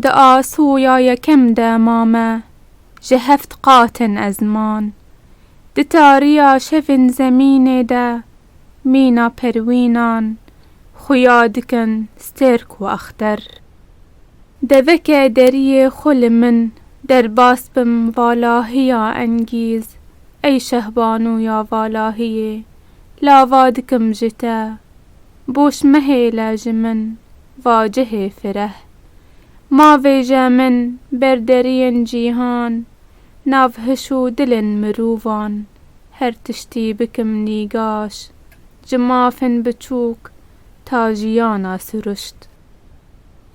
Di asoya yekem de ma me ji heft qat in ez man. Di tariya şevên zemînê de mîna perwînan xuya dikin stêrk û axter. Deveke deriyê xwe li min derbas bim valahiya engîz ey şehbanu ya valahiyê. lava dikim ji te. Boş mehêle ji min va cihê fireh. Ma vêje min ber deriyên cîhan, nav hiş û dilên mirovan, her tiştî bikim nîgaş, ji mafên biçûk ta jiyana siruşt.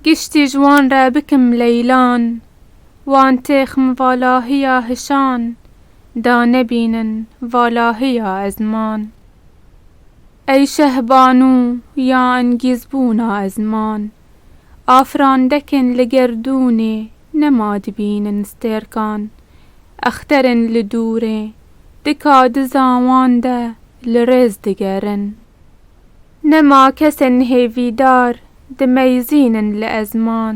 Giştî ji wan re bikim leylan. Wan têx min valahiya hişan da nebînin valahiya ezman. Ey şehbanû ya engîzbûna ezman. Afirandekên li gerdûnê nema dibînin stêrkan. Exterên li dûrê di ka dizan wan de li rêz digerin. Nema kesên hêvîdar dimeyzînin li ezman,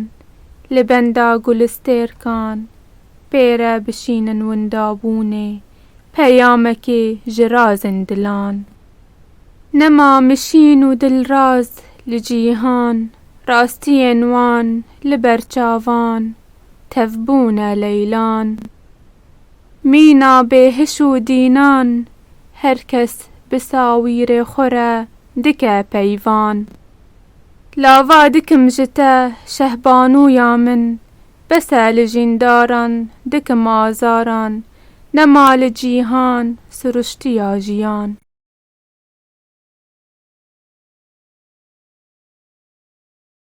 li benda gulistêrkan pêre bişînin windabûnê peyamekê ji razên dilan. Nema mişîn û dilraz li cîhan, rastiyên wan li ber çavan tevbûne leylan. Mîna bêhiş û dînan, her kes bi sawîrê xwe re dike peyvan. Lava dikim ji te Şehbanûya min, bes e li jîndaran dikim azaran, nema li cîhan siruştiya jiyan.